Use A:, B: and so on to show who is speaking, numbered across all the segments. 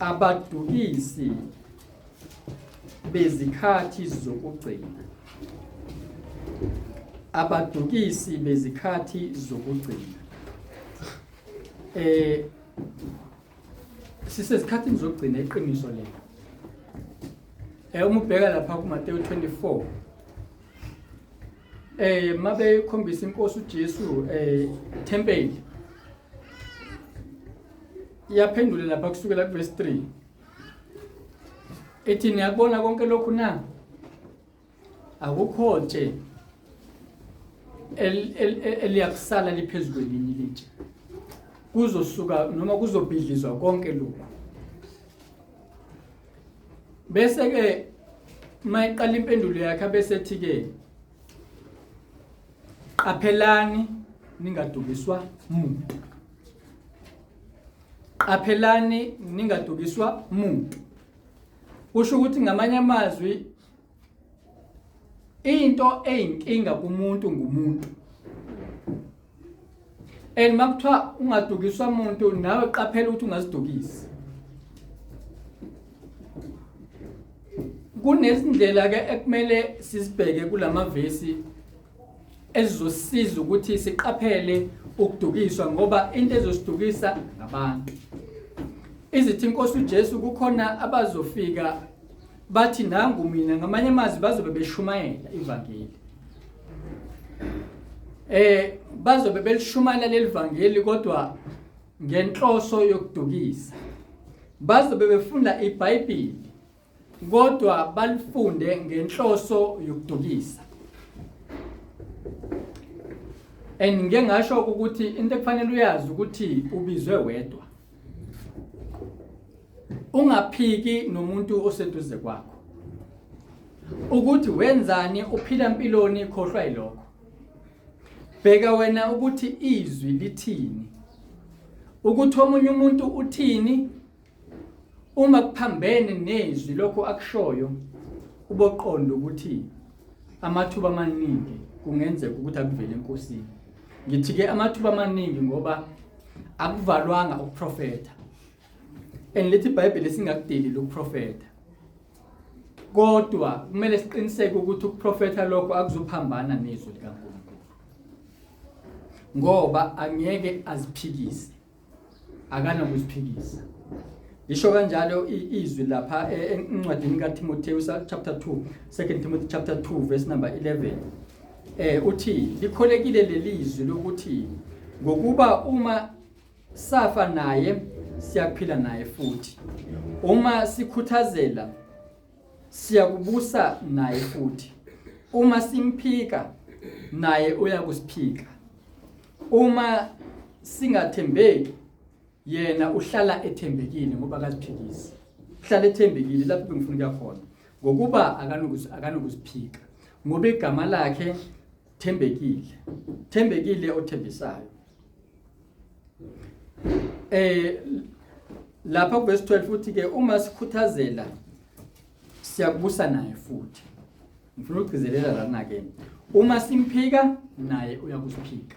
A: abadukisi bezikhathi zokugcina abadukisi bezikhathi zokugcina eh sisesikhathini zokugcina iqiniso lelo eh uma ubheka lapha kuMateyu 24 eh mabe khombisa inkosi uJesu eh temple iyaphendula lapha kusukela kuverse 3 ethi niyakubona konke lokhu na akukho nje eliyakusala liphezu kwelinye ilitshe kuzosuka noma kuzobhidlizwa konke lokhu bese ke mayiqala impendulo yakhe abesethi ke qaphelani ningadukiswa muntu qaphelani ningadukiswa muntu kusho ukuthi ngamanye amazwi into eyinkinga kumuntu ngumuntu and makuthiwa ungadukiswa umuntu nawe qaphela ukuthi ungazidukisi kunezindlela ke ekumele sizibheke kulamavesi ezizosiza ukuthi siqaphele ukudukiswa ngoba into ezosidukisa ngabantu izithi inkosi uJesu kukhona abazofika bathi nangu mina ngamanye amazwi bazobe beshumayela ivangeli eh bazobe belishumayela lelivangeli kodwa ngenhloso yokudukisa bazobe befunda iBhayibheli kodwa balifunde ngenhloso yokudukisa and ngeke ngasho ukuthi into ekufanele uyazi ukuthi ubizwe wedwa ungaphiki nomuntu oseduze kwakho ukuthi wenzani uphila impiloni ikhohlwa yilokho bheka wena ukuthi izwi lithini ukuthi omunye umuntu uthini uma kuphambene nezwi lokho akushoyo uboqonda ukuthi amathuba amaningi kungenzeka ukuthi akuvele enkosini ngithi ke amathuba amaningi ngoba akuvalwanga ukuprofeta and lithi iBhayibheli singakudeli lokuprofeta kodwa kumele siqiniseke ukuthi ukuprofeta lokho akuzophambana nezwi likaNkulunkulu ngoba angeke aziphikise akanakuziphikisa lisho kanjalo izwi lapha e, encwadini kaTimotheus chapter 2 2 Timothy chapter 2 verse number 11 Eh uthi likholekile lelizwi lokuthi ngokuba uma safa naye siyaphila naye futhi. Uma sikhuthazela siyakubusa naye futhi. Uma simphika naye uyakusiphika. Uma singathembeki yena uhlala ethembekile ngoba akaziphikisi uhlala ethembekile lapho bengifuna ukuya khona ngokuba akanokuziphika ngoba igama lakhe thembekile thembekile othembisayo eh lapha kuvesi 12 futhi ke uma sikhuthazela siyakubusa naye futhi ngifuna ukugcizelela lana ke uma simphika naye uyakusiphika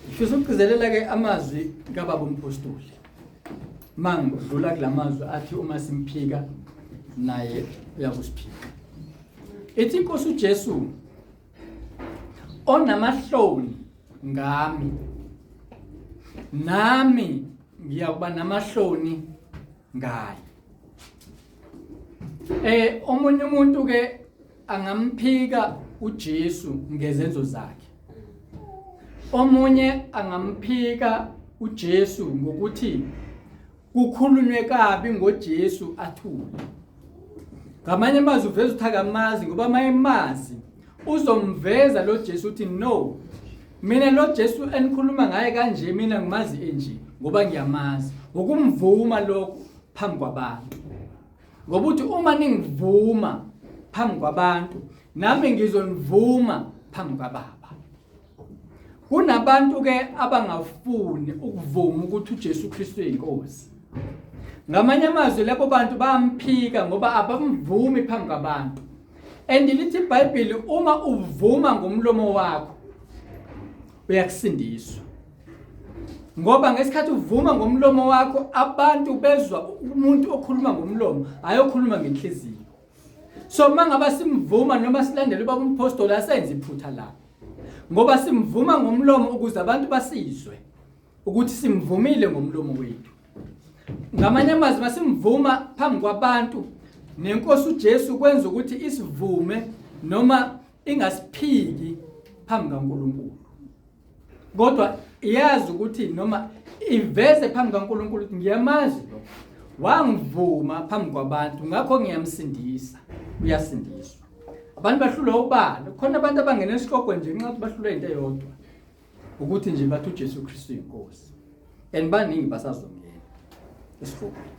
A: ngifisa ukugcizelela ke amazwi kababa umpostoli mangidlula kulamazwi athi uma simphika naye uyakusiphika ethi inkosi uJesu onamahloni ngami nami ngiyakuba namahloni ngayo eh omunye umuntu ke angamphika uJesu ngezenzo zakhe omunye angamphika uJesu ngokuthi kukhulunywe kabi ngoJesu athule ngamanye amazwi uveza ukuthi akamazi ngoba mayemazi uzomveza lo Jesu uthi no mina lo Jesu enikhuluma ngaye kanje mina ngimazi enje ngoba ngiyamazi ukumvuma lokho phambi kwabantu ngoba uthi uma ningivuma phambi kwabantu nami ngizonivuma phambi kwababa Kunabantu ke abangafuni ukuvuma ukuthi uJesu Kristu uyinkosi. Ngamanye amazwi labo bantu bamphika ngoba abamvumi phambi kwabantu. Andilithi iBhayibheli uma uvuma ngomlomo wakho uyakusindiswa. Ngoba ngesikhathi uvuma ngomlomo wakho abantu bezwa umuntu okhuluma ngomlomo ayokhuluma ngenhliziyo. So mangaba simvuma noma silandela ubaba umpostoli asenze iphutha lapho. Ngoba simvuma ngomlomo ukuze abantu basizwe ukuthi simvumile ngomlomo wethu. Ngamanye amazwi masimvuma phambi kwabantu nenkosi uJesu kwenza ukuthi isivume noma ingasiphiki phambi kaNkuluNkulu. Kodwa iyazi ukuthi noma iveze phambi kaNkuluNkulu ukuthi ngiyamazi lo wangivuma phambi kwabantu ngakho ngiyamsindisa uyasindiswa. abantu bahlulwa ubani khona abantu abangena esihogwe nje nxa bahlulwa into eyodwa ukuthi nje bathi uJesu Kristu inkosi and baningi basazongena esihogweni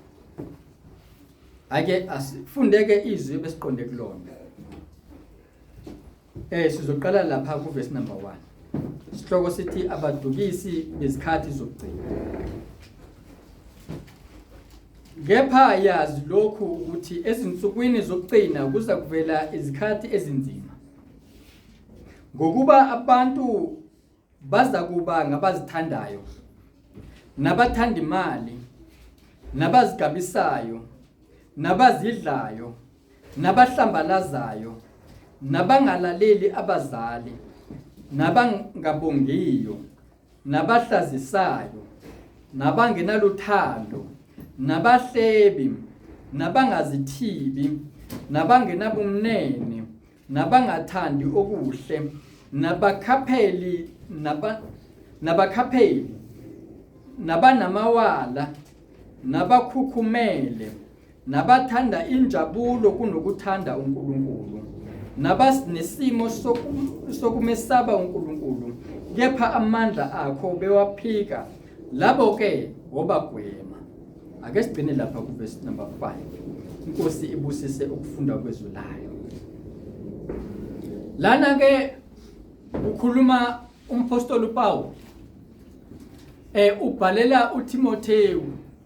A: ake asifundeke izwi besiqonde kulona eh sizoqala lapha ku verse number 1 isihloko sithi abadukisi bezikhathi zokugcina Kepha yazi lokhu ukuthi ezinsukwini zokugcina kuza kuvela izikhathi ezinzima. Ngokuba abantu baza kuba ngabazithandayo nabathanda imali nabazigabisayo nabazidlayo nabahlambalazayo nabangalaleli abazali nabangabongiyo nabahlazisayo nabangenaluthando nabahlebi nabangazithibi nabangenabumnene nabangathandi okuhle nabakhapheli naba nabakhapheli nabanamawala nabakhukhumele nabathanda injabulo kunokuthanda uNkulunkulu nabasinesimo sokumesaba uNkulunkulu kepha amandla akho bewaphika labo ke wobagwema ake sigcine lapha ku verse number 5 inkosi ibusise ukufunda kwezwi layo lana ke ukhuluma umpostoli uPawulu eh ubhalela uTimothewu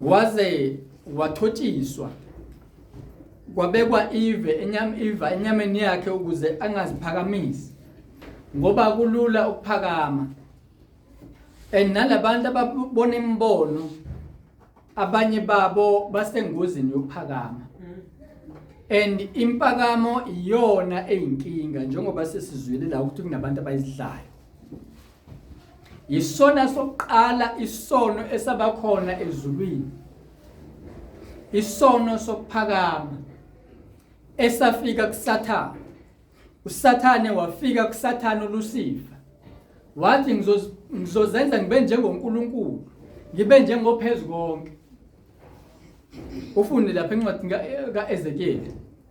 A: waze wathotshiswa kwabekwa ive enyama iva enyameni yakhe ukuze angaziphakamisi ngoba kulula ukuphakama and nalabantu ababona imibono abanye babo basengozini yokuphakama and impakamo iyona eyinkinga njengoba sesizwile la ukuthi kunabantu abayidlayo yisona sokuqala isono esabakhona ezulwini isono sokuphakama esafika kusathana usathane wafika kusathana ulusifa wathi ngizozenza ngibe njengoNkulunkulu ngibe njengophezu konke ufunde lapha encwadi kaEzekiel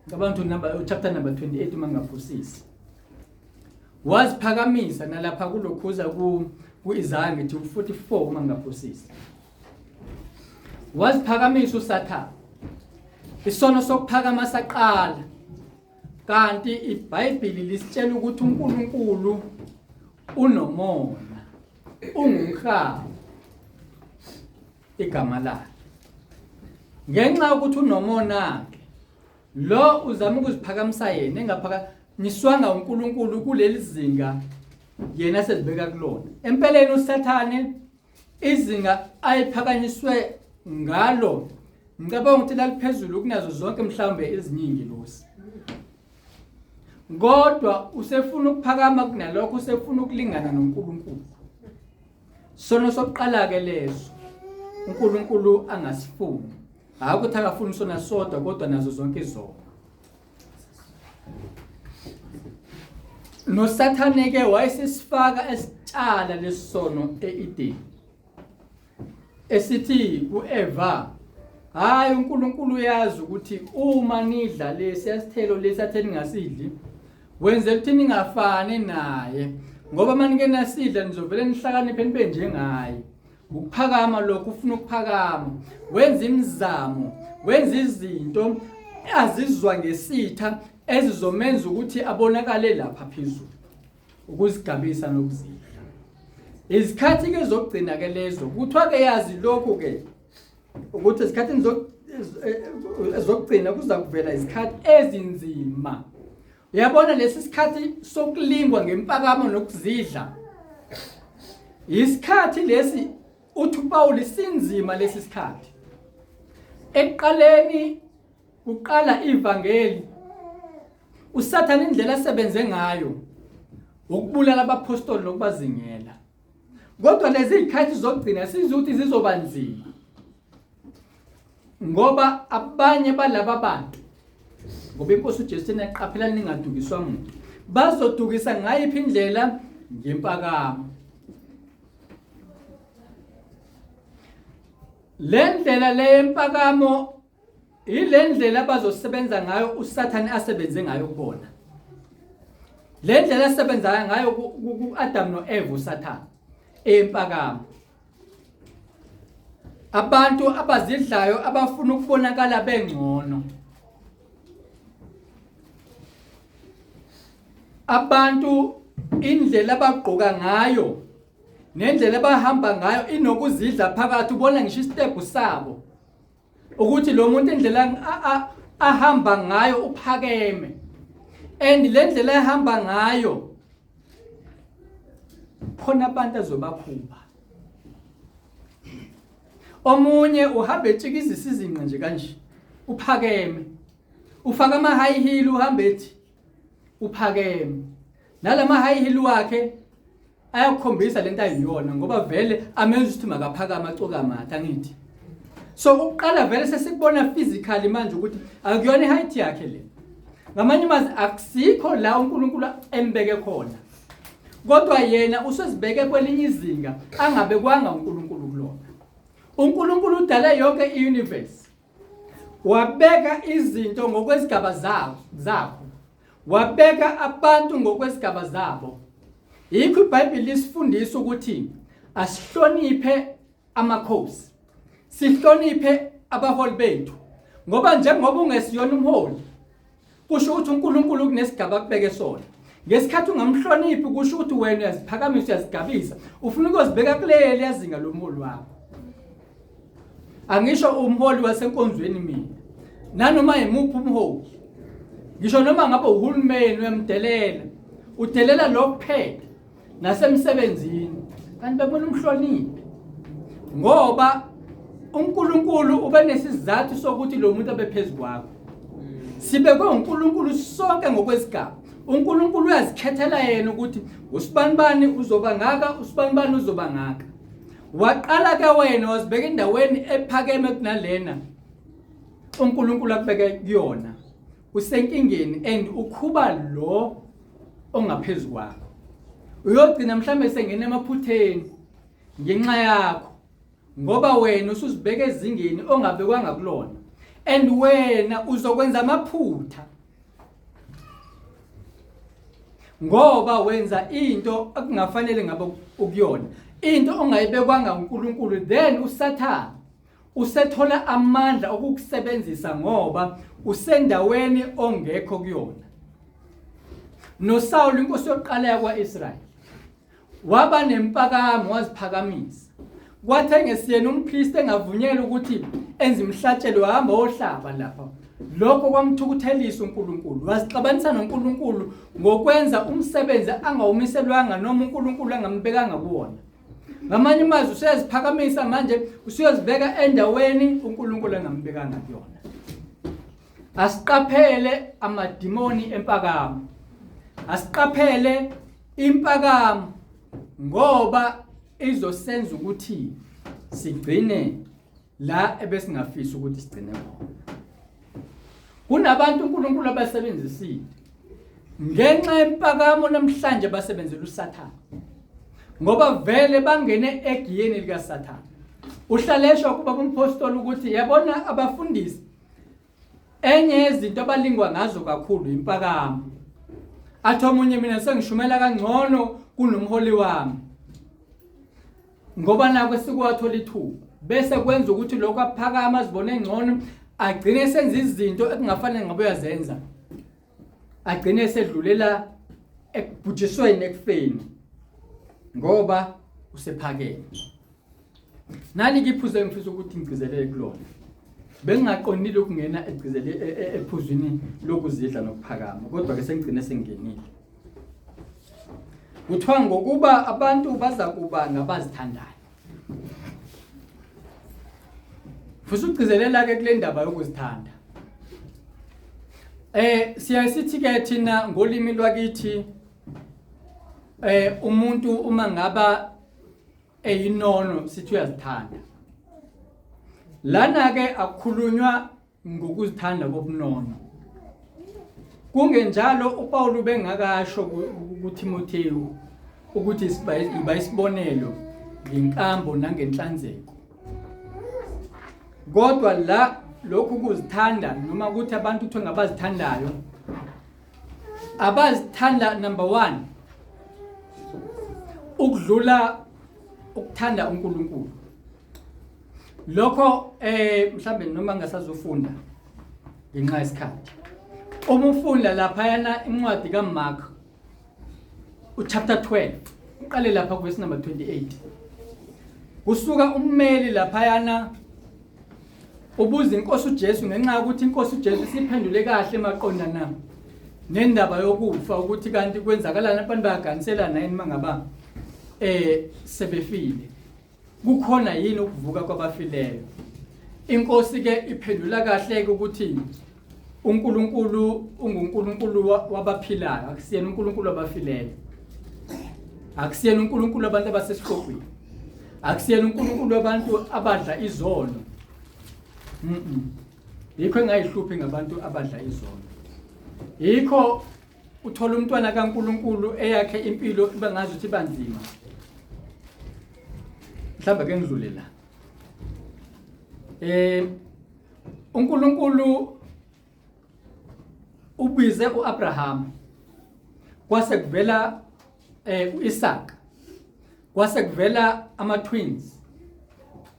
A: ngicabanga ukuthi number chapter number 28 uma ngingaphosisi waziphakamisa nalapha kulokhuza ku-isaya ngithi u-44 uma ngingaphosisi waziphakamisa usathane isono sokuphakama saqala kanti ibhayibhili lisitshela ukuthi unkulunkulu unomona ungumhaba igama lakhe ngenxa yokuthi unomona-ke Lo uzama ukuziphakamisa yena engaphaka niswanga uNkulunkulu kuleli zinga yena sezibeka kulona. Empeleni uSathane izinga ayiphakanyiswe ngalo ngicabanga ukuthi laliphezulu kunazo zonke mhlawumbe eziningi losi. Kodwa usefuna ukuphakama kunalokho usefuna ukulingana noNkulunkulu. Sono sokuqala ke leso uNkulunkulu angasifuni. Hayi ukuthi akafuni sona sodwa kodwa nazo zonke izono. nosathane ke wayesisifaka esitshala lesono eEden esithi kuEva hayi uNkulunkulu uyazi ukuthi uma nidla lesi asithelo lesi atheni ngasidli Wenze ukuthi ningafani naye ngoba manike nasidla nizovele nihlakaniphe nibe njengaye. Ukuphakama lokho ufuna ukuphakama. Wenza imizamo, wenza izinto azizwa ngesitha ezizomenza ukuthi abonakale lapha phezulu. Ukuzigabisa nokuzidla. Izikhathi ke zokugcina ke lezo. Kuthiwa ke yazi lokho ke ukuthi ezikhathini zokugcina kuza kuvela izikhathi ezinzima uyabona lesi sikhathi sokulingwa ngempakamo nokuzidla isikhathi lesi uthi uPawulu sinzima lesi sikhathi ekuqaleni uqala ivangeli usathana indlela asebenze ngayo ukubulala abapostoli nokubazingela kodwa lezi zikhathi zokugcina sizwe ukuthi zizoba nzima ngoba abanye balaba bantu ngoba inkosi uJesu thina iqaphela ningadukiswa muntu bazodukisa ngayiphi indlela ngempakamo le ndlela le yempakamo Yile ndlela abazosebenza ngayo uSathane asebenze ngayo kubona. Le ndlela asebenza ngayo ku-Adam no-Eva uSathane empakamo. Abantu abazidlayo abafuna ukubonakala bengcono. Abantu indlela abagqoka ngayo nendlela abahamba ngayo inokuzidla phakathi ubona ngisho isitepu sabo ukuthi lo muntu indlela ahamba ngayo uphakeme and le ndlela ehamba ngayo khona abantu azobakhupha omunye uhamba etshikizisa izinqa nje kanje uphakeme ufaka ama high heel uhamba ethi uphakeme nalama high heel wakhe ayakhombisa lento ayiyona ngoba vele amenza ukuthi makaphakama acoka amathe angithi so ukuqala vele sesikubona physically manje ukuthi akuyona i-height yakhe le ngamanye amazwi akusikho la unkulunkulu embeke khona kodwa yena usezibeke kwelinye izinga angabekwanga unkulunkulu kulona unkulunkulu udale yonke i-universe wabeka izinto ngokwezigaba zabo zabo wabeka abantu ngokwezigaba zabo yikho ibhayibheli lisifundisa ukuthi asihloniphe amakhosi sihloniphe abaholi bethu ngoba njengoba ungesiyona umholi kusho ukuthi uNkulunkulu kunesigaba akubeke sona ngesikhathi ungamhloniphi kusho ukuthi wena uyaziphakamisa uyazigabisa ufuna ukuzibeka kuleli yazinga lomholi wakho angisho umholi wasenkonzweni mina nanoma yimuphi umholi ngisho noma ngabe uhulumeni uyamdelela udelela lokuphethe nasemsebenzini kanti bebona umhloniphi ngoba uNkulunkulu ubenesizathu sokuthi lo muntu abephezulu kwakho sibekwe uNkulunkulu sonke ngokwesigaba uNkulunkulu uyazikhethela yena ukuthi usibanibani uzoba ngaka usibanibani uzoba ngaka waqala ke wena wazibeka endaweni ephakeme kunalena uNkulunkulu akubeke kuyona usenkingeni and ukhuba lo ongaphezulu kwakho uyogcina mhlawumbe sengena emaphutheni ngenxa yakho ngoba wena usuzibeka ezingeni ongabekwanga kulona and wena uzokwenza amaphutha ngoba wenza into okungafanele ngabe ukuyona into ongayibekwanga uNkulunkulu then usathana Usethola amandla okukusebenzisa ngoba usendaweni ongekho kuyona. NoSawulu inkosi yokuqala yakwa-Israyeli waba nempakamo waziphakamisa kwathi engesiyena umpriest engavunyelwa ukuthi enze imihlatshelo hamba ohlaba lapha lokho kwamthukuthelisa uNkulunkulu wasixabanisa noNkulunkulu ngokwenza umsebenzi angawumiselwanga noma uNkulunkulu angambekanga kuwona ngamanye amazwi useyaziphakamisa manje usuyozibeka endaweni uNkulunkulu angambekanga kuyona asiqaphele amadimoni empakamo asiqaphele impakamo ngoba izosenza ukuthi sigcine la ebesingafisa ukuthi sigcine khona kunabantu uNkulunkulu abasebenzisile ngenxa yempakamo namhlanje basebenzela uSathane ngoba vele bangene egiyeni likaSathane uhlaleshwa kuba kumpostoli ukuthi yabona abafundisi Enye yezinto abalingwa ngazo kakhulu impakamo. Athi omunye mina sengishumela kangcono kunomholi wami. Ngoba nako sikwathola ithuba bese kwenza ukuthi lokho aphakama azibone engcono agcine senza izinto ekungafanele ngabe uyazenza. Agcine sedlulela ekubhujisweni ekufeni ngoba usephakeme. Nalike iphuzu engifisa ukuthi ngigcizelele kulona. Bengingaqondile ukungena egcizele e, e, ephuzwini lokuzidla nokuphakama kodwa ke sengigcine sengenile. Kuthiwa ngokuba abantu baza kuba ngabazithandayo. Futhi ugcizelela ke kule ndaba yokuzithanda. Eh siyaye sithi ke thina ngolimi lwakithi eh umuntu uma ngaba eyinono sithi uyazithanda lana ke akukhulunywa ngokuzithanda kobunono kungenjalo uPawulu bengakasho kuThimothewu ukuthi siba isibonelo ngenkambo nangenhlanzeko kodwa la lokhu kuzithanda noma ukuthi abantu kuthiwa ngabazithandayo abazithanda number 1 ukudlula ukuthanda uNkulunkulu lokho eh mhlambe noma ngasazofunda ngenxa yesikhathi uma ufunda lapha yana incwadi kaMark uchapter 12 uqale lapha kwesi number 28 kusuka ummeli lapha yana ubuza inkosi uJesu ngenxa yokuthi inkosi uJesu siphendule kahle maqondana nendaba yokufa ukuthi kanti kwenzakalani abantu bayaganiselana yini mangaba eh sebefile kukhona yini ukuvuka kwabafileyo inkosi ke iphendula kahle ukuthi uNkulunkulu unguNkulunkulu wabaphilayo akusiyena uNkulunkulu wabafileyo akusiyena uNkulunkulu abantu abasesihlogweni akusiyena uNkulunkulu wabantu abadla izono mhm yikho engayihluphi ngabantu abadla izono yikho uthola umntwana kaNkuluNkulu eyakhe impilo iba ngazi ukuthi banzima mhlawumbe ke ngidlule la eh uNkulunkulu ubize uAbraham kwase kuvela eh uIsaac kwase kuvela ama twins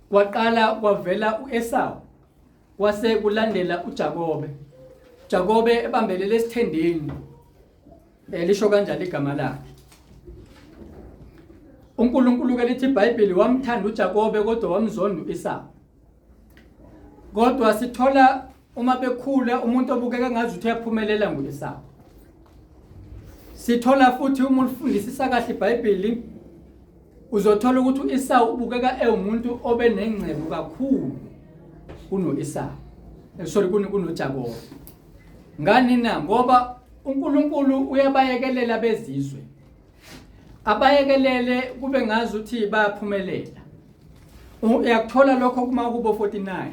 A: kwaqala kwavela uEsau kwase kulandela uJakobe Jakobe ebambelele esithendeni eh, lisho kanjani igama lakhe uNkulunkulu ke lithi iBhayibheli wamthanda uJakobe kodwa wamzonda uIsau kodwa sithola uma bekhula umuntu obukeka ngazi ukuthi uyaphumelela nguEsawu sithola futhi uma ulifundisisa kahle iBhayibheli uzothola ukuthi uEsawu ubukeka ewumuntu obenengcebo kakhulu kunoEsawu eh, sorry kunoJakobe ngani na ngoba uNkulunkulu uyabayekelela bezizwe abayekelele kube ngazi ukuthi bayaphumelela uyakuthola lokho kuma kubo 49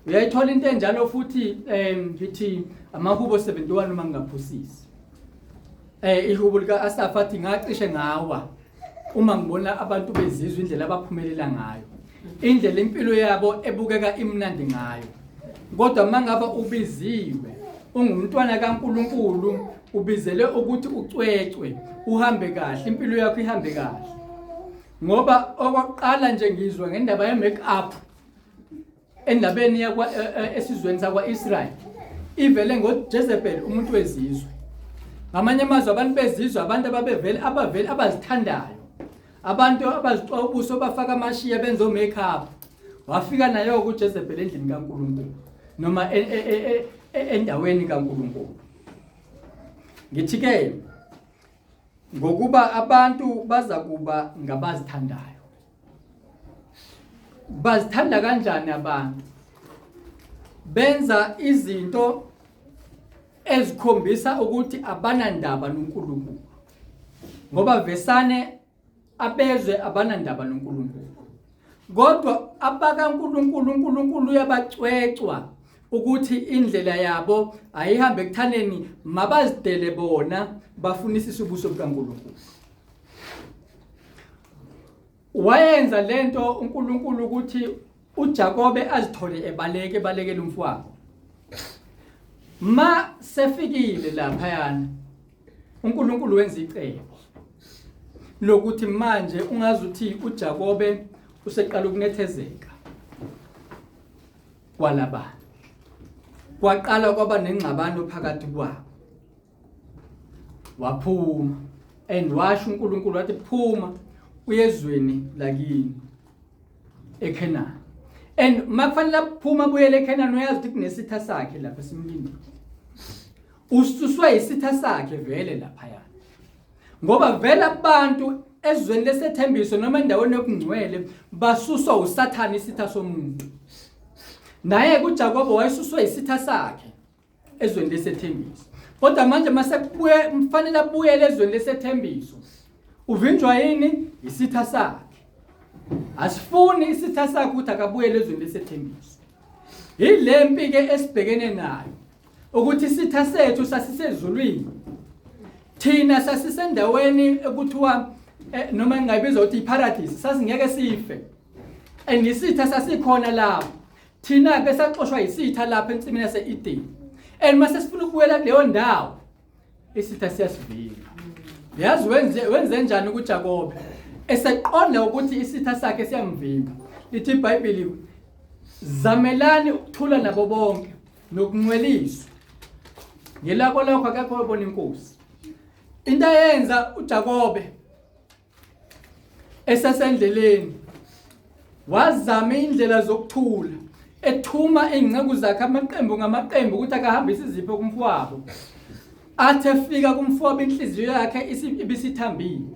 A: uyayithola into enjalo futhi eh ngithi amakubo 71 uma ngingaphusisi eh ihubo lika Asafa athi ngacishe ngawa uma ngibona abantu bezizwa indlela abaphumelela ngayo indlela impilo yabo ebukeka imnandi ngayo kodwa mangaba ubiziwe ungumntwana kaNkuluNkulu ubizele ukuthi ucwecwe uhambe kahle impilo yakho ihambe kahle ngoba okokuqala nje ngizwa ngendaba ye-make up endabeni e, e, esizweni sakwa-israyeli ivele ngojezebel umuntu wezizwe ngamanye amazwi abantu bezizwe abantu ababevele abavele abazithandayo abantu abazixwa ubuso bafaka amashiya benza o-make up wafika nayo-ke ujezebel endlini kankulunkulu noma e, endaweni kankulunkulu ngithi-ke Ngokuba abantu bazakuba ngabazithandayo. Bazithanda kanjani abantu? Benza izinto ezikhombisa ukuthi abanandaba noNkulunkulu. Ngoba vesane abezwe abanandaba noNkulunkulu kodwa abakaNkulunkulu uNkulunkulu uyabacwecwa ukuthi indlela yabo ayihambe ekuthaneni mabazidele bona bafunisisa ubuso bukaNkulunkulu wayenza lento uNkulunkulu ukuthi uJakobe azithole ebaleke ebalekela umfowabo ma sefikile lapha yana uNkulunkulu wenza icebo lokuthi manje ungazi uthi uJakobe useqala ukunethezeka kwalabana kwaqala kwaba nengxabano phakathi kwabo waphuma and washo uNkulunkulu wathi phuma uyezweni lakini eKhenan and makufanele aphuma buyele eKhenan uyazi ukuthi kunesitha sakhe lapha simlindile ususwe isitha sakhe vele laphaya ngoba vele abantu ezweni lesethembiso noma endaweni yokungcwele basuswa usathane isitha somuntu naye kuJakobe wayesuswe isitha sakhe ezweni lesethembiso kodwa manje mase kubuye mfanele abuyele ezweni lesethembiso uvinjwa yini isitha sakhe asifuni isitha sakhe ukuthi akabuyele ezweni lesethembiso yilempi ke esibhekene nayo ukuthi isitha sethu sasisezulwini thina sasisendaweni ekuthiwa eh, noma ngingayibiza ukuthi iparadise sasingeke sife and isitha sasikhona lapho thina ke saxoshwa isitha lapha ensimini yase-edeni and mase sifuna ukubuyela kuleyo ndawo isitha siyasivika yazi wenze wenze njani kuJakobe eseqonda ukuthi isitha sakhe siyamvimba lithi iBhayibheli zamelani ukuthula nabo bonke nokunceliswa ngelabo lokho akekho obona inkosi into ayenza uJakobe esesendleleni wazama indlela zokuthula ethuma izinceku zakhe amaqembu ngamaqembu ukuthi akahambise izipho kumfowabo athe fika kumfowabo inhliziyo yakhe ibisithambile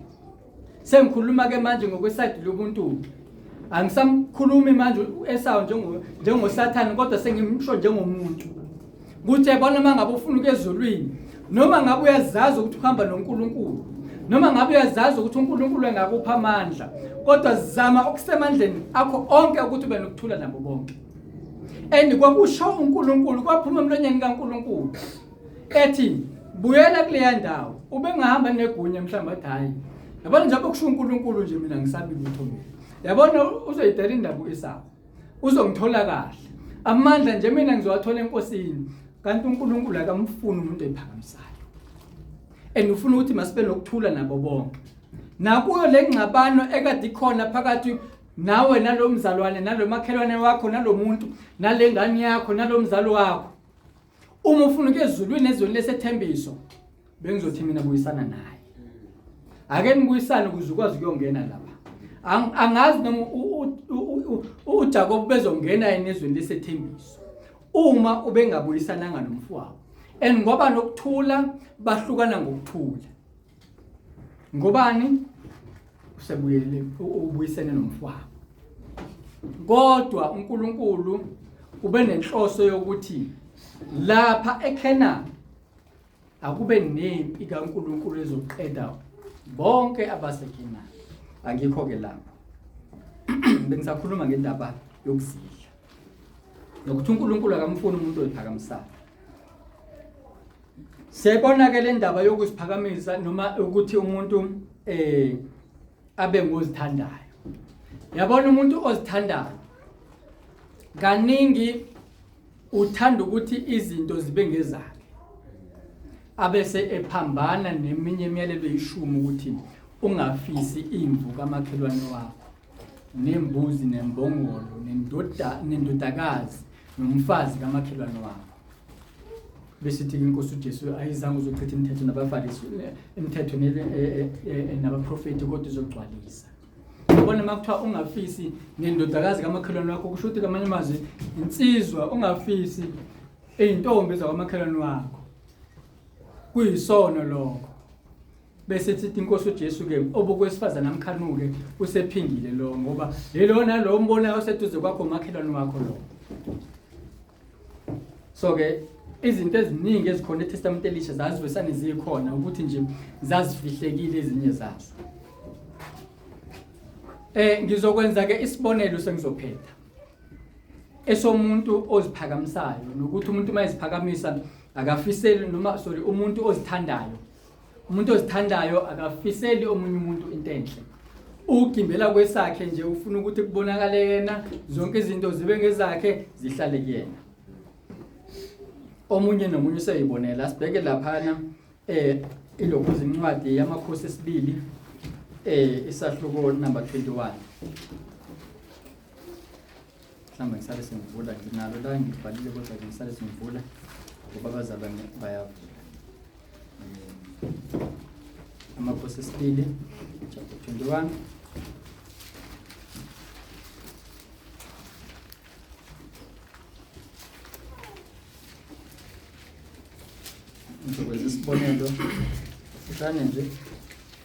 A: Sengikhuluma ke manje ngokwesayidi lobuntu. Angisamkhulumi manje esawo njengo njengosathane kodwa sengimsho njengomuntu. Ukuthi yabona uma ngabe ufuna ukezulwini noma ngabe uyazazi ukuthi uhamba noNkulunkulu noma ngabe uyazazi ukuthi uNkulunkulu engakupha amandla kodwa zama okusemandleni akho onke ukuthi ube nokuthula nabo bonke and kwakusho uNkulunkulu kwaphuma emlonyeni kaNkulunkulu ethi buyela kuleya ndawo ubengahamba negunya mhlawumbe athi hhayi yabona njengoba kusho unkulunkulu nje mina ngisabi lutho mina yabona uzoyidela indaba u-esawu uzongithola kahle amandla nje mina ngizowathola enkosini kanti unkulunkulu akamfuni umuntu ephakamisayo and ufuna ukuthi masibe nokuthula nabo bonke nakuyo le ngxabano ekade ikhona phakathi nawe nalomzalwane nalomakhelwane wakho nalomuntu nalengane yakho nalomzali wakho uma ufuna ukuya ezulwini ezweni lesethembiso bengizothi mina buyisana naye ake nibuyisane ukuze ukwazi ukuyongena lapha angazi noma uJakob bezongena enizweni lesethembiso uma ubengabuyisananga nomfowabo and ngoba nokuthula bahlukana ngokuthula Ngobani? Usebuyele ubuyisene nomfwabo. Kodwa uNkulunkulu ube nenhloso yokuthi lapha eKhena akube nempi kaNkulunkulu ezoqeda bonke abaseKhena. Angikho ke lapho. Bengisakhuluma ngendaba yokuzidla. Nokuthi uNkulunkulu akamfuni umuntu oyiphakamisayo. Siyayibona-ke le ndaba yokuziphakamisa noma ukuthi umuntu um abe ngozithandayo yabona umuntu ozithandayo kaningi uthanda ukuthi izinto zibe ngezakhe abese ephambana neminye imiyalelo yishumi ukuthi ungafisi imvu kamakhelwane wakho nembuzi nembongolo nendodakazi nomfazi kamakhelwane wakho bese ithi inkosi uJesu ayizange uzochitha imithetho nabaFarisi imithetho e, e, e, nabaprofeti kodwa izogcwalisa ubona uma kuthiwa ungafisi nendodakazi kamakhelwane wakho kusho ukuthi kamanye amazwi insizwa ungafisi eyintombi zakwamakhelwane wakho kuyisono lokho bese sithi inkosi uJesu ke obokwesifazana amkhanuke usephindile lo ngoba lelona lo mbonayo oseduze kwakho makhelwane wakho lo so ke izinto eziningi ezikhona eTestament elisha zazivesane zikhona ukuthi nje zazifihlekile ezinye zazo eh ngizokwenza ke isibonelo sengizophetha esomuntu oziphakamisayo nokuthi umuntu uma eziphakamisa akafiseli noma sorry umuntu ozithandayo Umuntu ozithandayo akafiseli omunye umuntu into enhle. Ugimbela kwesakhe nje ufuna ukuthi kubonakale yena, zonke izinto zibe ngezakhe, zihlale kuyena. Omunye nomunye useyibonela sibheke laphana eh ilokhu izincwadi yamakhosi esibili eh isahluko number 21. mhlawumbe ngisale sengivula nginalo la ngibhalile kodwa ke ngisale sengivula ngoba abazalwane bayavula um amakhosi esibili chapter 21 ngizokwenza isibonelo fushane nje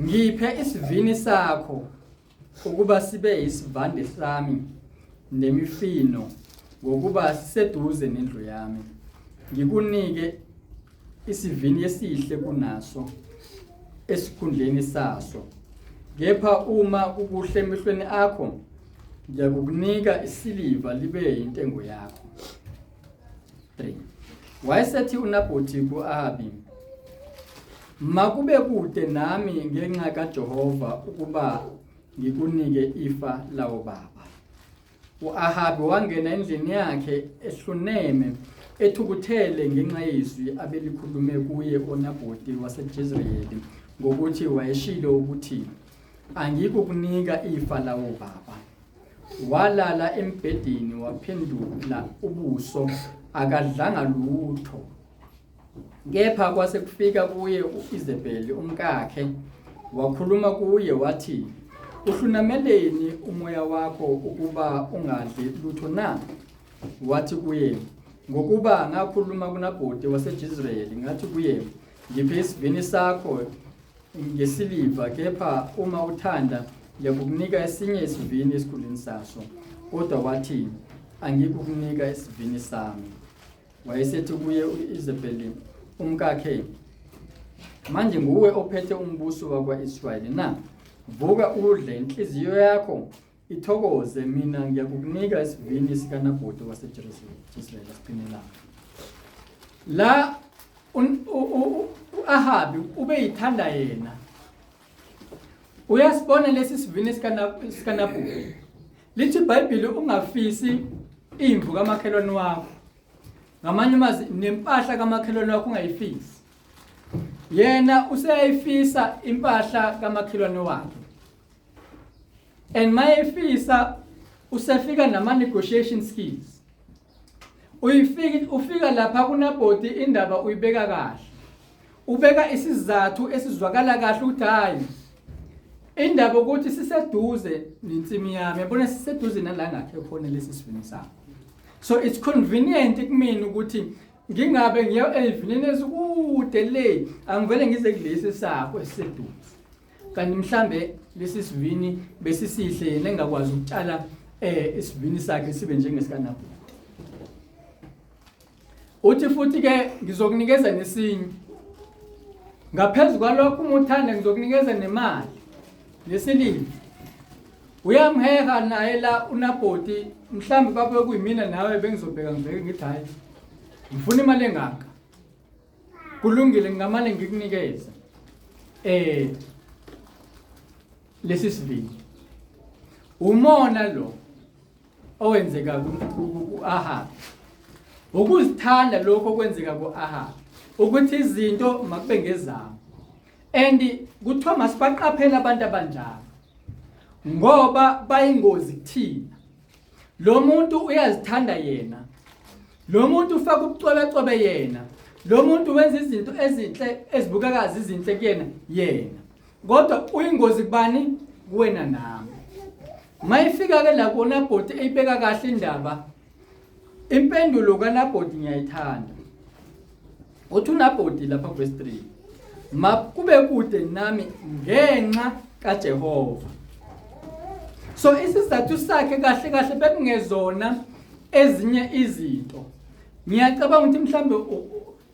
A: Ngiphe isivini sakho ukuba sibe isivande sami nemifino ngokuba siseduze nendlu yami. Ngikunike isivini esihle kunaso esikhundleni saso. Kepha uma kukuhle emehlweni akho ngiyakukunika isiliva libe intengo yakho. 3 wayesethi uNabhothi kuAbi makube kude nami ngenxa kaJehova ukuba ngikunike ifa lawo baba uAhabi wangena endlini yakhe ehluneme ethukuthele ngenxa yezwi abelikhulume kuye oNabhothi waseJezreeli ngokuthi wayeshilo ukuthi angikukunika ifa lawo baba walala embhedeni waphendula ubuso akadlanga lutho kepha kwase kufika kuye uIsabel umkakhe wakhuluma kuye wathi uhlunameleni umoya wakho ukuba ungadli lutho na wathi kuye ngokuba ngakhuluma kunabhoti waseJisraeli ngathi kuye ngiphe isivini sakho ngesiliva kepha uma uthanda ngiyakukunika esinye isivini esikhulwini saso kodwa wathi angikukunika isivini sami wayesethi kuye u-isabeli umkakhe manje nguwe ophethe umbuso wakwa-israyeli na vuka udle inhliziyo yakho Ithokoze mina ngiyakukunika isivini sikaNabhothi waseJezreel asiqinelanga. La uAhabi ubeyithanda yena. Uyasibona lesi sivini sikaNabhothi. Lithi iBhayibheli ungafisi imvu kamakhelwane wakho. Ngamanye amazi nempahla kamakhelwane wakho ungayifisi. Yena useyayifisa impahla kamakhelwane wakhe. and mayefisa usefika nama negotiation skills uyifika ufika lapha kunabhodi indaba uyibeka kahle ubeka isizathu esizwakala kahle ukuthi hayi indaba ukuthi siseduze nensimi yami yabona siseduze nala ngakhe khona lesi sivini sami so it's convenient kumina ukuthi ngingabe ngiya ezivinini ezikude le angivele ngize kulesi sakho esiseduze kanti mhlambe lesi sivini besisihle yena engakwazi ukutshala eh isivini sakhe sibe njengesikanapo uthi futhi ke ngizokunikeza nesinye ngaphezulu kwalokho uma uthanda ngizokunikeza nemali nesilimi uyamheha naye la unabhoti mhlawumbe babe kuyimina nawe bengizobheka ngibheke ngithi hhayi ngifuna imali engaka kulungile ngingamane ngikunikeze eh lesi sivini umona lo owenzeka ku-Ahab ukuzithanda lokho okwenzeka ku-Ahab ukuthi izinto makube ngezabo and kuthiwa masibaqaphele abantu abanjalo ngoba bayingozi kuthina lo muntu uyazithanda yena lo muntu ufaka ubucwebecwebe yena lo muntu wenza izinto ezinhle ezibukekazi izinhle kuyena yena kodwa uyingozi kubani kuwena nami mayifika ke la kona bhoti eyibeka kahle indaba impendulo kanabhoti ngiyayithanda Ngothuna bhodi lapha verse 3. Makube kude nami ngenxa kaJehova. So isizathu sakhe kahle kahle bekungezona ezinye izinto. Ngiyacabanga ukuthi mhlambe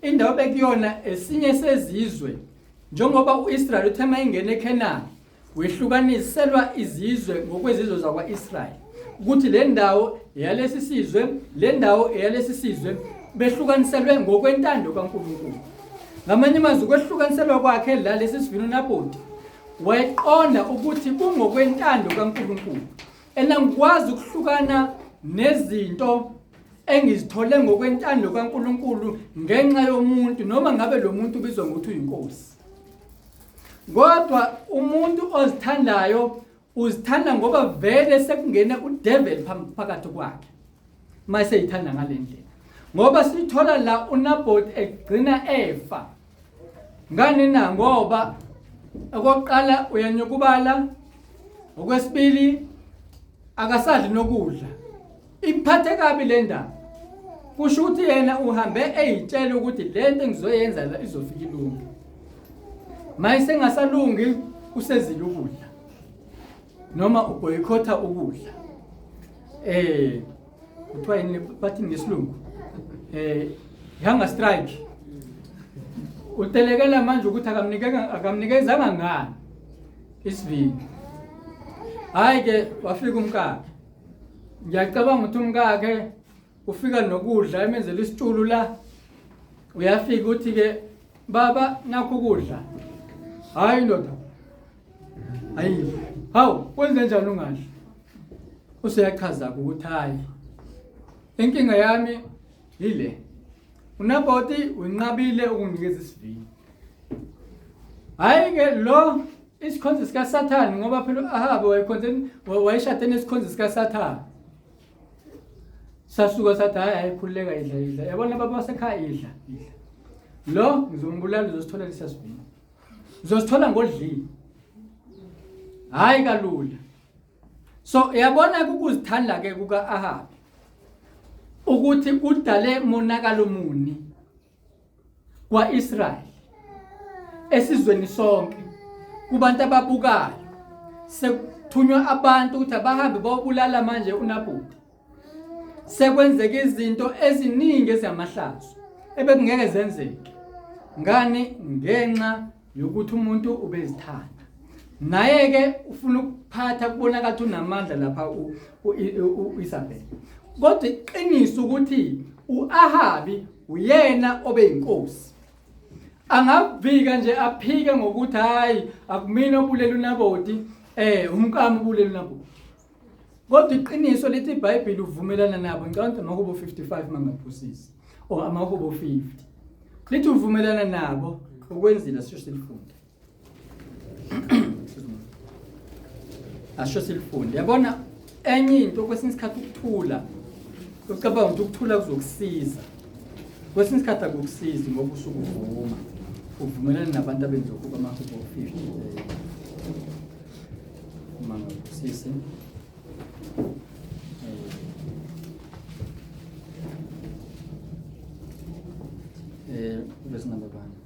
A: indawo bekuyona esinye sezizwe njengoba uIsrael uthema ingene eKenani Wehlukaniselwa izizwe ngokwezizwe zakwa-Israyeli ukuthi le ndawo eyalesi sizwe le ndawo eyalesi sizwe behlukaniselwe ngokwentando kaNkulunkulu ngamanye amazwi kwehlukaniselwa kwakhe la lesi sivino naboti wayeqonda ukuthi kungokwentando kaNkulunkulu enangikwazi ukuhlukana nezinto engizithole ngokwentando kaNkulunkulu ngenxa yomuntu noma ngabe lo muntu ubizwa ngokuthi uyinkosi kodwa umuntu ozithandayo uzithanda ngoba vele sekungene udeveli phakathi kwakhe uma seyithanda ngale ndlela ngoba sithola la unabhoti egcina efa ngani na ngoba okokuqala uyanyukubala okwesibili akasadli nokudla Ikuphathe kabi le ndaba. Kusho ukuthi yena uhambe eyitshela ukuthi le nto engizoyenza la izofika ilunge. Mayise ngasalungi usezile ukudla. Noma uboyikotha ukudla. Eh kuthiwa yini bathi ngesilungu? Eh hunger strike. Utelekela manje ukuthi akamnikeka akamnikezanga ngani isivini. Hayi ke wafika umkakhe ngiyacabanga ukuthi umkakhe ufika nokudla emenzela isitshulu la uyafika ukuthi ke baba nakho ukudla hayi ndoda hayi hawu kwenze njani ungadli useyachaza ukuthi hayi inkinga yami yile unaboti winqabile ukunginikeza isivini hayi ke lo isikhonzi sikasathane ngoba phela u-ahabe wayekhonzeni wayeshade nesikhonzi sikasathane sasuka sathi hhayi ayikhululeka idla idla yabona baba wasekhaya idla idla lo ngizombulala uzosithola lisasivini uzosithola ngodlile hhayi kalula so yabona kukuzithanda-ke kuka-ahabi ukuthi kudale monakalo muni kwa-Israyeli esizweni sonke kubantu ababukayo sekuthunywa abantu ukuthi abahambe bobulala manje uNabhuti sekwenzeka izinto eziningi ezamahlazo ebekungeke zenzeke ngani ngenxa yokuthi umuntu ubezithanda naye ke ufuna ukuphatha kubonakala ukuthi unamandla lapha uIsabel kodwa iqiniso ukuthi uAhabi uyena obeyinkosi angavika nje aphike ngokuthi hayi akumina obulele unaboti eh umkami ubulele unaboti Kodwa iqiniso lithi iBhayibheli uvumelana nabo ngicabanga ukuthi makubo 55 mangaphusisi or amakubo 50. Lithi uvumelana nabo ukwenzile sisho silifunde. Asho silifunde. Yabona enye into kwesinye isikhathi ukuthula ucabanga ukuthi ukuthula kuzokusiza kwesinye isikhathi akukusizi ngoba usuke uvuma uvumelana nabantu abenza ukuba amahubo 50 Mangabusise. Eh, verse number 1.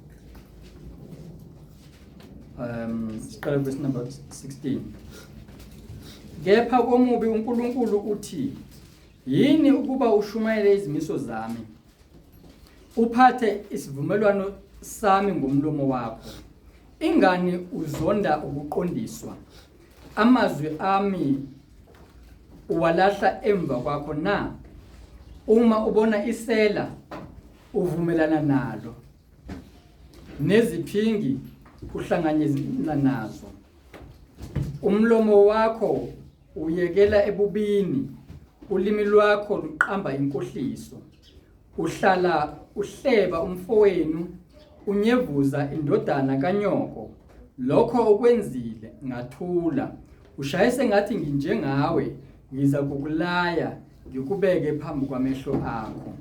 A: Um, siqale verse number 16. Kepha komubi uNkulunkulu uthi, yini ukuba ushumayele izimiso zami? Uphathe isivumelwano sami ngomlomo wakho. Ingani uzonda ukuqondiswa, amazwi ami uwalahla emva kwakho na? Uma ubona isela uvumelana nalo, neziphingi uhlanganyela nazo. Umlomo wakho Uyekela ebubini, ulimi lwakho luqamba inkohliso. Uhlala uhleba umfowenu, unyevuza indodana kanyoko. Lokho okwenzile ngathula. Ushaye sengathi nginjengawe, ngiza kukulaya ngikubeke phambi kwamehlo akho.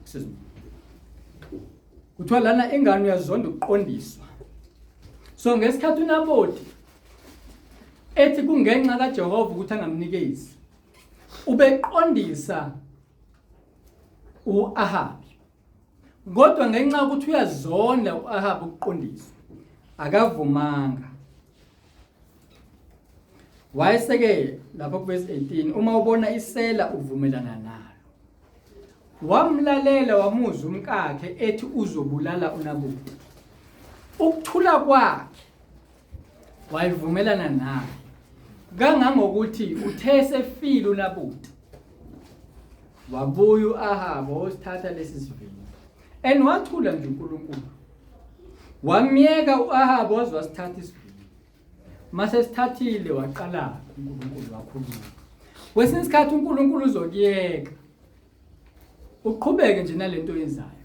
A: Excuse me. Kuthiwa lana ingane uyazonda ukuqondiswa. So ngesikhathi uNaboti ethi kungenxa kaJehova ukuthi angamnikezi ubeqondisa uAhabi kodwa ngenxa ukuthi uyazonda uAhabi ukuqondisa akavumanga wayeseke lapha kuverse 18 uma ubona isela uvumelana nalo wamlalela wamuzwa umkakhe ethi uzobulala unabuti ukuthula kwakhe wayevumelana naye kangangokuthi uthe esefile uNabuti wabuya uAhaba osithatha lesi sivini and wathula nje uNkulunkulu wamyeka uAhaba waze wasithatha isivini mase sithathile waqala uNkulunkulu wakhuluma kwesinye isikhathi uNkulunkulu uzokuyeka uqhubeke nje nalento yenzayo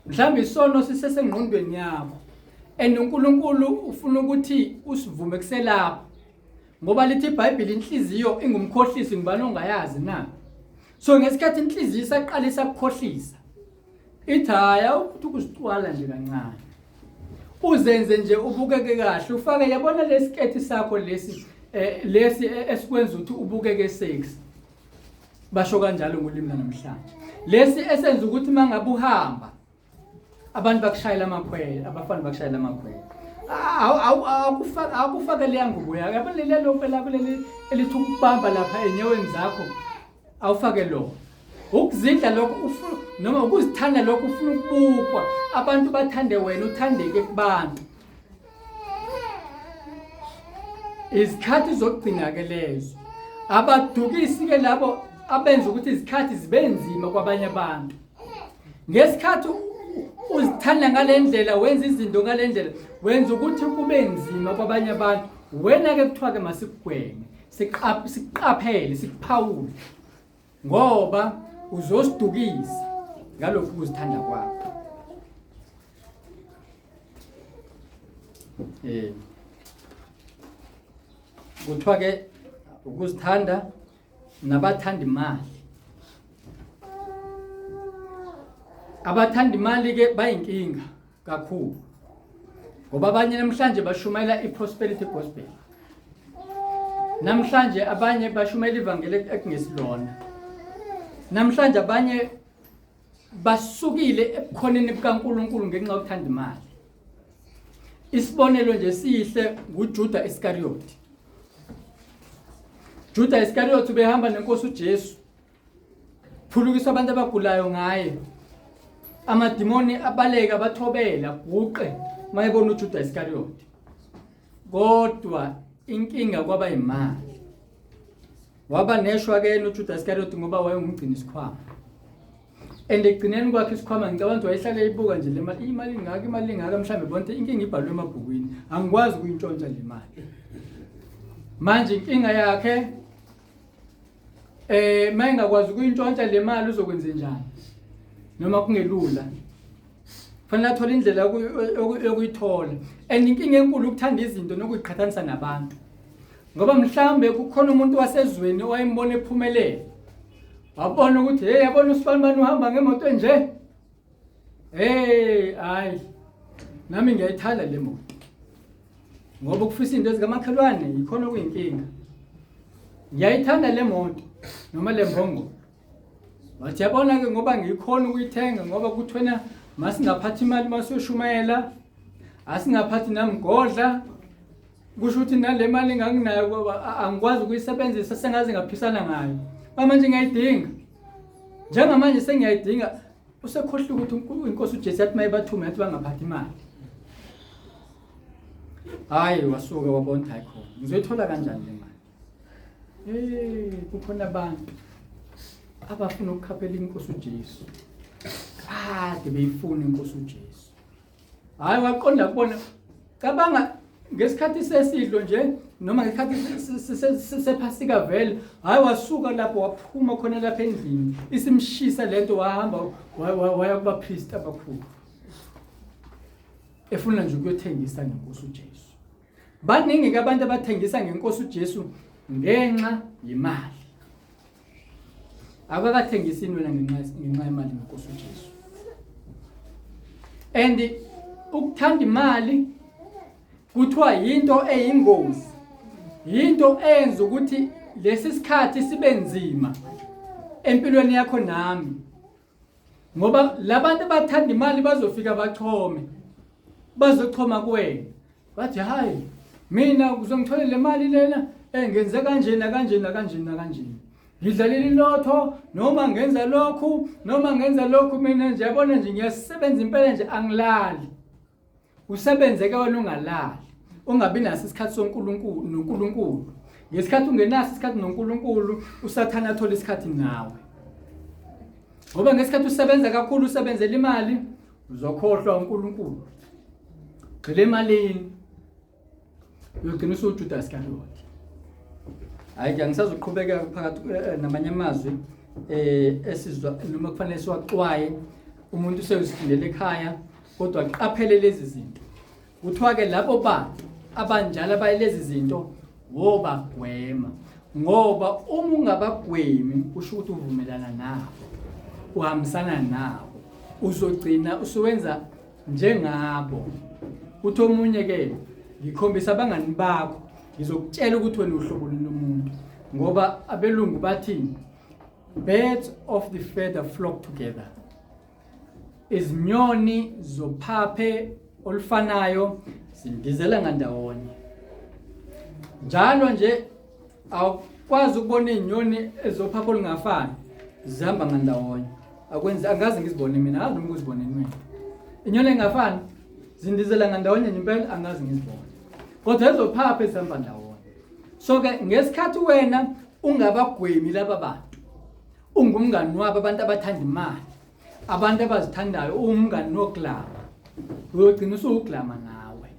A: mhlawumbe isono sisesengqondweni yakho and uNkulunkulu ufuna ukuthi usivume kuselapho ngoba lithi iBhayibheli inhliziyo ingumkhohlisi ngibani ongayazi na so ngesikhathi inhliziyo isaqalisa ukukhohlisa ithi haya ukuthi ukusicwala nje kancane uzenze nje ubukeke kahle ufake yabona lesiketi sakho lesi eh, lesi eh, esikwenza ukuthi ubukeke sexy basho kanjalo ngolimi lanamhlanje lesi esenza ukuthi uma ngabe uhamba abantu bakushayela amakhwele abafana bakushayela amakhwele awukufake leya ngubo yakho yabo leli lompe lakho leli elithi ukubamba lapha enyaweni zakho awufake lona ukuzidla lokho ufuna noma ukuzithanda lokho ufuna ukubukwa abantu bathande wena uthandeke kubantu izikhathi zokugcina-ke lezo abadukisi-ke labo abenza ukuthi izikhathi zibe nzima kwabanye abantu ngesikhathi uzithanda ngale ndlela wenza izinto ngale ndlela wenza ukuthi kube nzima kwabanye abantu wena-ke kuthiwa-ke masikugweme siqaphele sikuphawule ngoba uzosidukisa ngalokhu kuzithanda kwakho eh kuthiwa ke ukuzithanda nabathanda imali abathanda imali ke bayinkinga kakhulu ngoba abanye namhlanje bashumayela i-prosperity gospel namhlanje abanye bashumayela ivangeli ekungesilona namhlanje abanye basukile ebukhoneni bukaNkuluNkulu ngenxa yokuthanda imali isibonelo nje sihle nguJuda Iscariot Juda Iscariot ubehamba nenkosi uJesu phulukisa abantu abagulayo ngaye amadimoni abaleke abathobele aguqe uma ebona ujuda isikariyoti kodwa inkinga kwaba yimali waba neshwa ke yena ujuda isikariyoti ngoba wayengumgcini isikhwama and ekugcineni kwakhe isikhwama ngicabanga ukuthi wayehlale eyibuka nje le mali imali ingaka imali ingaka mhlawumbe bonke inkinga ibhalwe emabhukwini angikwazi ukuyintshontsha le mali manje inkinga yakhe Eh mayengakwazi ukuyintshontsha le mali uzokwenza njani? Noma kungelula. Fanele athole indlela yokuyithola. And inkinga enkulu ukuthanda izinto nokuziqhathanisa nabantu. Ngoba mhlambe kukhona umuntu wasezweni owayembona ephumelele. Wabona ukuthi hey yabona usifanibani uhamba ngemoto enje. Hey, hayi. Nami ngiyayithanda le moto. Ngoba ukufisa into ezikamakhelwane yikhona okuyinkinga. Ngiyayithanda le moto noma le mbongo. Wathi yabona ke ngoba ngikhona ukuyithenga ngoba kuthwena masingaphathi imali masiyoshumayela asingaphathi namgodla kusho ukuthi nale mali enganginayo baba angikwazi ukuyisebenzisa sengaze ngaphisana ngayo bamanje ngiyayidinga njengamanje sengiyayidinga usekhohlile ukuthi inkosi ujesu yathi uma ibathume yathi bangaphathi imali hhayi wasuke wabona ukuthi hayi khona ngizoyithola kanjani le mali e kukhona abantu abafuna ukukhaphela inkosi ujesu kade beyifuna inkosi ujesu hayi waqonda kubona cabanga ngesikhathi sesidlo nje noma ngesikhathi sephasika vele hayi wasuka lapho waphuma khona lapha endlini isimshisa lento wahamba waya kubapristi abakhulu efuna nje ukuyothengisa ngenkosi ujesu Baningi-ke abantu abathengisa ngenkosi uJesu ngenxa yemali. Abakathengisi wena ngenxa ngenxa yemali ngenkosi uJesu. And ukuthanda imali kuthiwa yinto eyingozi. Yinto eyenza ukuthi lesi sikhathi sibe nzima empilweni yakho nami. ngoba labantu abathanda imali bazofika bachome bazochoma kuwena bathi hayi mina uzongitholela le mali lena eh ngenze kanjena kanjena kanjena kanjena ngidlalela ilotho noma ngenza lokhu noma ngenza lokhu mina nje yabona nje ngiyasebenza impela nje angilali Usebenzeke wena ungalali, ungabi naso isikhathi soNkulunkulu noNkulunkulu. Ngesikhathi ungenaso isikhathi noNkulunkulu, uSathane athola isikhathi nawe. Ngoba ngesikhathi usebenza kakhulu usebenzela imali, uzokhohlwa uNkulunkulu. Gxile emalini. uyogcina usuwujudasi kaloti hhayi ke angisazoqhubekeka phakathi eh, eh, namanye amazwi um esizwa noma kufanele siwaxwaye umuntu useyozifundela ekhaya kodwa qaphele lezi zinto kuthiwa-ke labo bantu abanjalo abayilezi zinto wobagwema ngoba uma ungabagwemi kusho ukuthi uvumelana nabo uhambisana nabo uzogcina usuwenza njengabo uthi omunye ke ngikhombisa abangani bakho ngizokutshela ukuthi wena uhlobo lomuntu ngoba abelungu bathini birds of the feather flock together izinyoni zophaphe olufanayo zindizela ngandawonye njalo nje awukwazi ukubona izinyoni ezophapha olungafani zihamba ngandawonye akwenzi angazi ngizibone mina angazi noma ukuzibone mina inyoni engafani zindizela ngandawonye nje impela angazi ngizibone kodwa ezophapha ezihamba ndawonye so ke ngesikhathi wena ungabagwemi laba bantu ungumngani wabo abantu abathanda imali abantu abazithandayo uwumngani noglama uyogcina usuwuglama nawe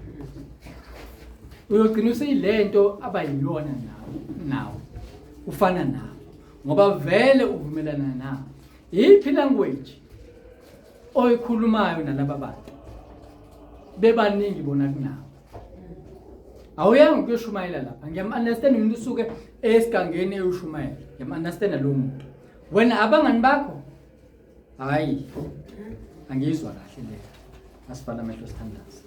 A: uyogcina useyilento abayiyona nawe nawe ufana nawe ngoba vele uvumelana nawe yiphi language oyikhulumayo nalaba bantu bebaningi bona kunawe awuyanga ukuyoshumayela lapha ngiyam-understand umuntu usuke esigangeni eyoshumayela ngiyam-understanda lowo muntu Wena abangani bakho? Hayi. Angizwa kahle le. Asifana amehlo sithandaza.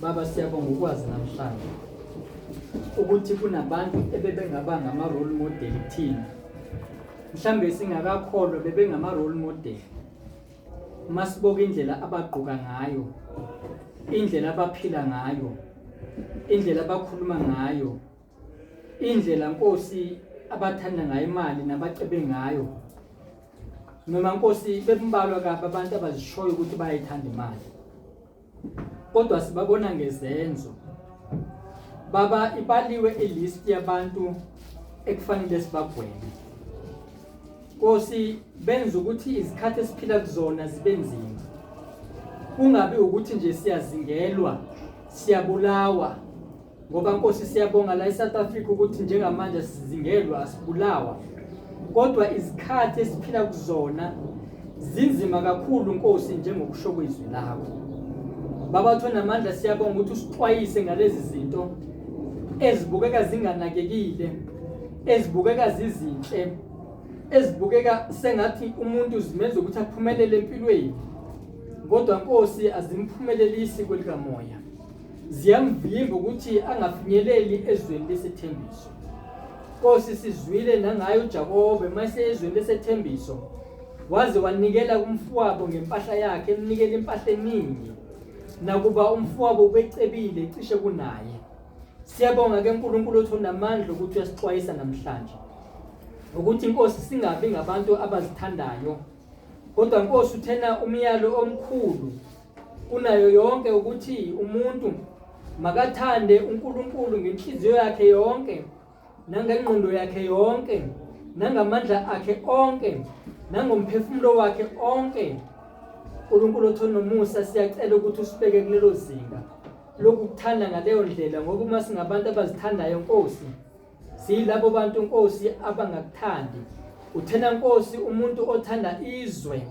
A: Baba siyabonga ukwazi namhlanje ukuthi kunabantu ebebengaba ngama role model kuthina mhlambe singakakholwa bebengama role model masiboka indlela abagqoka ngayo indlela abaphila ngayo indlela abakhuluma ngayo indlela nkosi abathanda ngayo imali nabacebe ngayo noma nkosi bembalwa kabi abantu abazishoyo ukuthi bayayithanda imali kodwa sibabona ngezenzo baba ibaliwe ilist yabantu ekufanele sibagweme Nkosi benza ukuthi izikhathi esiphila kuzona zibe nzima kungabi ukuthi nje siyazingelwa siyabulawa Ngoba Nkosi siyabonga la eSouth Africa ukuthi njengamanje asizingelwa asibulawa. Kodwa izikhathi esiphila kuzona zinzima kakhulu Nkosi njengokusho kwezwi lakho. Baba thona amandla siyabonga ukuthi usixwayise ngalezi zinto ezibukeka zinganakekile, ezibukeka zizinhle, ezibukeka sengathi umuntu zimenza ukuthi aphumelele empilweni. Kodwa Nkosi azimphumelelisi kwelikamoya. ziyamvimba ukuthi angafinyeleli ezweni lesethembiso Nkosi sizwile nangayo uJakobe mase ezweni lesethembiso waze wanikela kumfowabo ngempahla yakhe emnikela impahla eningi nakuba umfowabo ubecebile cishe kunaye siyabonga ke uNkulunkulu othu namandla ukuthi uyasixwayisa namhlanje ukuthi inkosi singabi ngabantu abazithandayo kodwa inkosi uthena umyalo omkhulu Kunayo yonke ukuthi umuntu makathande uNkulunkulu ngenhliziyo yakhe yonke nangengqondo yakhe yonke nangamandla akhe onke nangomphefumulo wakhe onke uNkulunkulu othona nomusa siyacela ukuthi usibeke kulelo zinga lokukuthanda ngaleyo ndlela ngoba uma singabantu abazithandayo Nkosi Silabo bantu Nkosi abangakuthandi. Uthena Nkosi umuntu othanda izwe.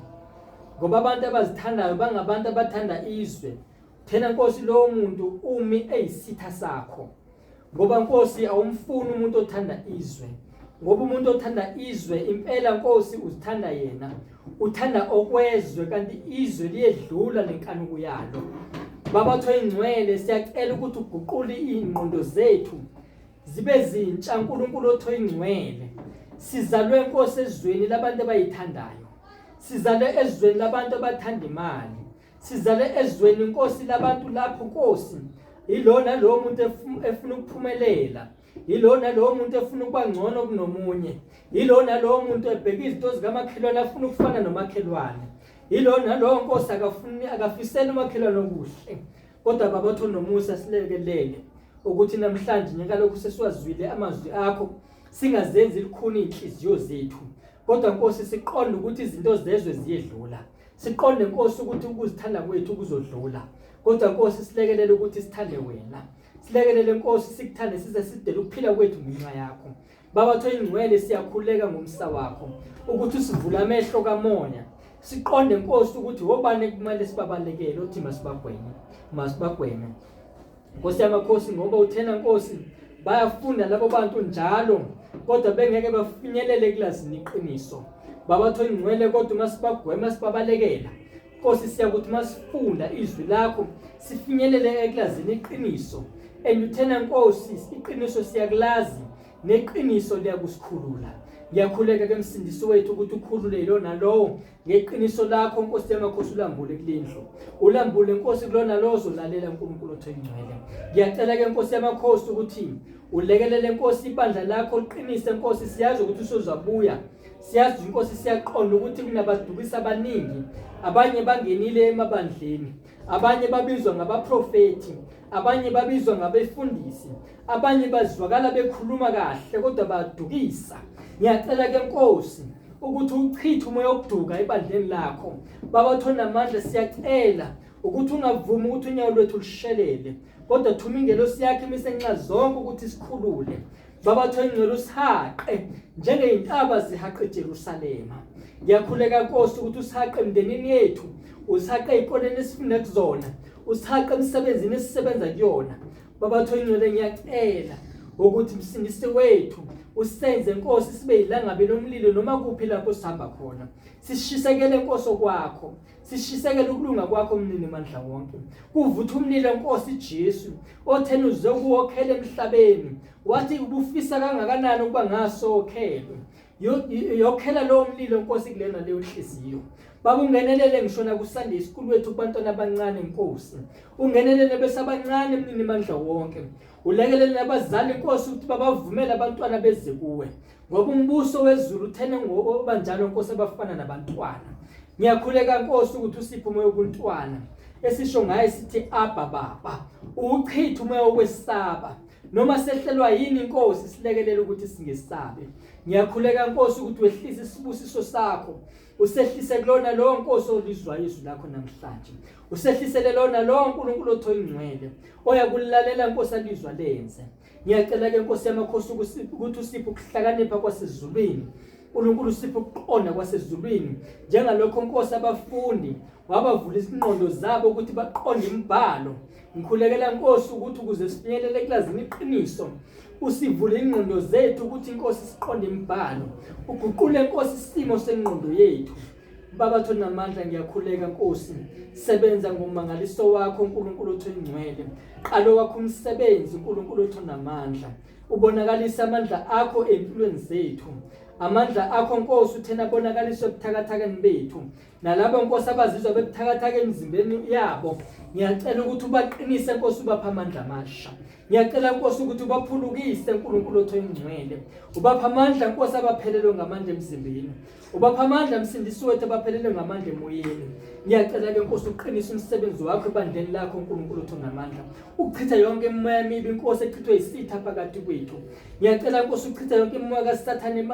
A: Ngoba abantu abazithandayo bangabantu abathanda izwe. Thena Nkosi lowo muntu umi eyisitha sakho. Ngoba Nkosi awumfuni umuntu othanda izwe. Ngoba umuntu othanda izwe impela Nkosi uzithanda yena. Uthanda okwezwe kanti izwe liyedlula nenkanuko yalo. Baba Thwe ingcwele siyacela ukuthi uguqule ingqondo zethu. zibe zintsha uNkulunkulu otho ingcwele sizalwe inkosi ezweni labantu abayithandayo sizalwe ezweni labantu abathanda imali sizalwe ezweni inkosi labantu lapho nkosi ilona lo muntu efuna ukuphumelela ilona lo muntu efuna ukuba ngcono kunomunye ilona lo muntu ebheka izinto zikamakhelwane afuna ukufana nomakhelwane ilona lo nkosi akafuni akafisela umakhelwane okuhle Kodwa Baba Thoni nomusa silekelele ukuthi namhlanje njengalokhu sesiwazwile amazwi akho singazenzi likhuni inhliziyo zethu kodwa Nkosi siqonde ukuthi izinto zezwe ziyedlula siqonde Nkosi ukuthi ukuzithanda kwethu kuzodlula kodwa Nkosi silekelele ukuthi sithande wena silekelele Nkosi sikuthande size sidele ukuphila kwethu ngenxa yakho Baba Thengcwele siyakhuleka ngomsa wakho ukuthi usivule amehlo kamoya siqonde Nkosi ukuthi wobani kumele sibabalekele uthi masibagweme masibagweme Nkosi yamakhosi ngoba uthena Nkosi bayafunda labo bantu njalo kodwa bengeke bafinyelele kulazini iqiniso Baba Thengcwele kodwa masibagwema sibabalekela Nkosi siyakuthi masifunda izwi lakho sifinyelele ekulazini iqiniso and uthena Nkosi iqiniso siyakulazi neqiniso liyakusikhulula ngiyakhuleka ke msindisi wethu ukuthi ukhulule lona lowo ngeqiniso lakho Nkosi yamakhosi ulambule kulendlu ulambule Nkosi kulona lowo zolalela uNkulunkulu othe ingcwele ngiyacela ke Nkosi yamakhosi ukuthi ulekelele Nkosi ibandla lakho liqinise Nkosi siyazi ukuthi usozabuya siyazi inkosi siyaqonda ukuthi kunabadukisi abaningi abanye bangenile emabandleni abanye babizwa ngabaprofethi abanye babizwa ngabefundisi abanye bazwakala bekhuluma kahle kodwa badukisa ngiyacela ke nkosi ukuthi uchithe umoya wokuduka ebandleni lakho baba thona amandla siyacela ukuthi ungavumi ukuthi unyawo lwethu lushelele kodwa thuma ingelosi yakhe imisenxa zonke ukuthi sikhulule Babathu engcwele usihaqe njengeyintaba zihaqe eJerusalema. Ngiyakhuleka Nkosi ukuthi usihaqe emndenini yethu, usihaqe ezikoleni esifunda kuzona, usihaqe emsebenzini esisebenza kuyona. Babathu engcwele ngiyacela ukuthi msindisi wethu usenze Nkosi sibe yilangabe lomlilo noma kuphi lapho sihamba khona sishisekele Nkosi okwakho sishisekela ukulunga kwakho mnini mandla wonke kuvutha umlilo nkosi Jesu othena uzokuwokhela emhlabeni wathi ubufisa kangakanani ukuba ngasokhelwe yokhela lowo mlilo nkosi kulena leyo nhliziyo Baba ungenelele ngishona kusande isikulu wethu kubantwana abancane inkosi. Ungenelele besabancane mnini mandla wonke. Ulekelele nabazali inkosi ukuthi babavumele abantwana beze kuwe. ngoba umbuso wezulu uthene ngoba njalo Nkosi abafana nabantwana ngiyakhuleka Nkosi ukuthi usiphe umoya wobuntwana esisho ngaye sithi abba baba uchitha umoya wokwesaba noma sehlelwa yini inkosi silekelela ukuthi singesabe ngiyakhuleka inkosi ukuthi wehlise isibusiso sakho usehlise kulona lo nkosi olizwa izwi lakho namhlanje usehlisele lona lo nkulunkulu othoyingcwele oya kulalela inkosi alizwa lenze ngiyacela ke Nkosi yamakhosi ukuthi usiphe ukuhlakanipha kwasezulwini uNkulunkulu usiphe ukuqonda kwasezulwini njengalokho Nkosi abafundi wabavula izinqondo zabo ukuthi baqonde imibhalo ngikhulekela Nkosi ukuthi ukuze sifinyelele kulazini iqiniso usivule ingqondo zethu ukuthi inkosi siqonde imibhalo uguqule inkosi isimo sengqondo yethu Baba thonamandla ngiyakhuleka Nkosi sebenza ngomangaliso wakho uNkulunkulu othu ingcwele qalo wakho umsebenzi uNkulunkulu othu namandla ubonakalisa amandla akho empilweni zethu amandla akho Nkosi uthena bonakaliswe ebuthakathakeni bethu nalabo Nkosi abazizwa bebuthakathaka emzimbeni yabo ngiyacela ukuthi ubaqinise Nkosi ubapha amandla amasha ngiyacela Nkosi ukuthi ubaphulukise uNkulunkulu othu ingcwele ubapha amandla Nkosi abaphelelwe ngamandla emzimbeni Ubapha amandla msindisi wethu abaphelele ngamandla emoyeni. Ngiyacela ke Nkosi uqinise umsebenzi wakho ebandleni lakho uNkulunkulu othu namandla. Uchitha yonke imimoya emibi Nkosi echithwe isitha phakathi kwethu. Ngiyacela Nkosi uchitha yonke imimoya kaSathane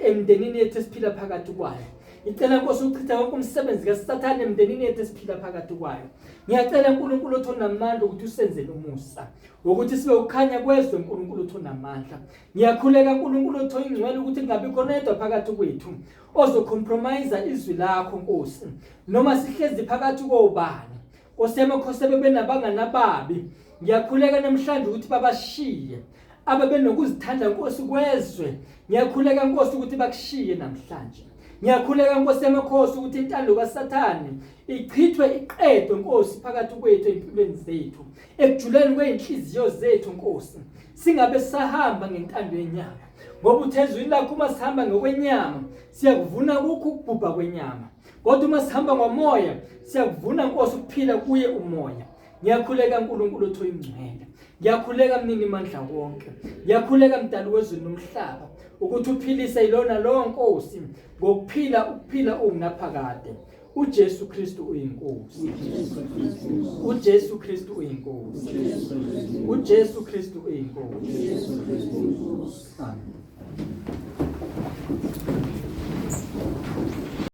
A: emndenini yethu esiphila phakathi kwayo. Ngicela Nkosi uchitha wonke umsebenzi kaSathane emndenini yethu esiphila phakathi kwayo. Ngiyacela uNkulunkulu othonamandla ukuthi usenzele umusa wokuthi sibe ukhanya kwezwe uNkulunkulu othonamandla. Ngiyakhuleka uNkulunkulu otho ingcwele ukuthi kungabi khona yedwa phakathi kwethu ozocompromise izwi lakho Nkosi noma sihlezi phakathi kobani Nkosi yami khosebe benabangani ababi ngiyakhuleka namhlanje ukuthi babashiye ababenokuzithanda Nkosi kwezwe ngiyakhuleka Nkosi ukuthi bakushiye namhlanje ngiyakhuleka Nkosi yamakhosi ukuthi intando kaSathane ichithwe iqedwe Nkosi phakathi kwethu empilweni zethu ekujuleni kwey'nhliziyo zethu nkosi singabe sahamba ngentando yenyama ngoba uthe ezwini lakho uma sihamba ngokwenyama siyakuvuna kukho ukubhubha kwenyama kodwa uma sihamba ngomoya siyakuvuna nkosi ukuphila kuye umoya ngiyakhuleka nkulunkulu othi oyingcwele ngiyakhuleka mnini mandla wonke ngiyakhuleka mdali wezulu nomhlaba ukuthi uphilise ilona lowo nkosi ngokuphila ukuphila ungunaphakade uJesu Kristu uyinkosi uJesu Kristu uyinkosi uJesu Kristu uyinkosi amen